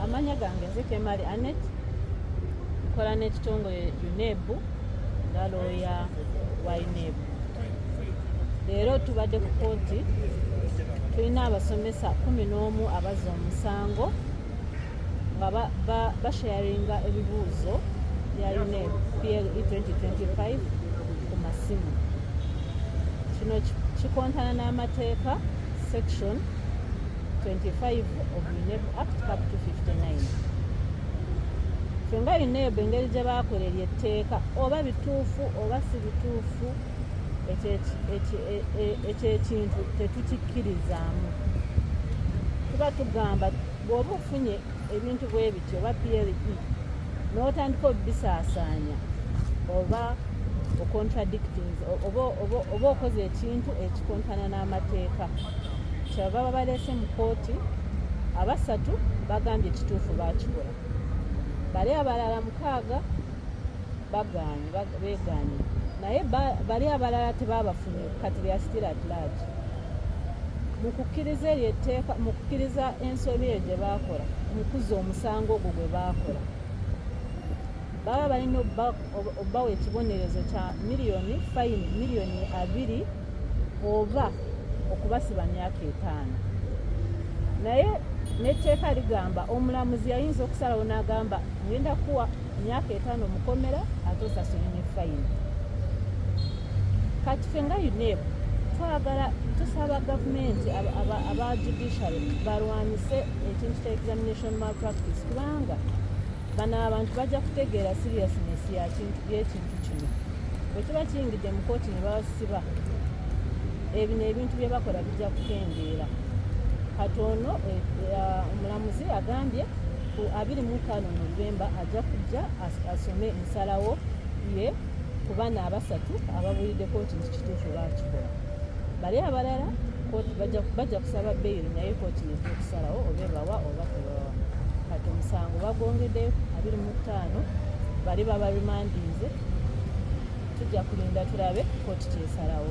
amanya gange nze kemali anet nkola n'ekitongole unebu nga looya wa unebu leero tubadde ku kooti tulina abasomesa kumi n'omu abazza omusango nga basharinga ebibuuzo bya unebu ple 2025 ku masimu kino kikontana n'amateeka section 25 of UNEB Act cap 259 ffe nga uneeb engeri gye baakola eryo etteeka oba bituufu oba si bituufu ekyekintu e, e, tetukikkirizaamu tuba tugamba bw'oba ofunye ebintu bwe bityo oba ple n'otandika obibisaasaanya oba ocontradict oba okoze ekintu ekikontana n'amateeka kyebava babaleese mu kooti abasatu bagambye ekituufu bakikola bali abalala mukaaga bagaanye begaanye naye bali abalala tebabafunye kati lya still at large mukukkiriza eryo etteeka mukukkiriza ensobi eyo gye baakola mukuza omusango ogwo gwe baakola baba balina obbawa ekibonerezo kya miliyoni fayini miliyoni abiri oba okubasiba myaka etaano naye n'etteeka ligamba omulamuzi yayinza okusalawo n'agamba ngenda kuwa myaka etaano mukomera ate osasule ne fayini kati fe nga unep twagala tusaba gavumenti aba judiciary balwanise ekintu kya examination malpractice kubanga bano abantu bajja kutegeera seriousness yekintu kino bwekiba kiyingidde mu kooti ne babasiba ebino ebintu bye bakola bijja kukendeera kati ono eh, eh, omulamuzi agambye ku abiri mu ttaano novemba ajja kujja asome ensalawo ye ku bana abasatu ababuulidde kooti nti kituufu bakikola bali abalala kooti bajja kusaba beyiri naye kooti nejja okusalawo oba ebawa oba tebawa kati omusango bagwongedde abiri mu ttaano bali babarimandinze tujja kulinda tulabe kooti kyesalawo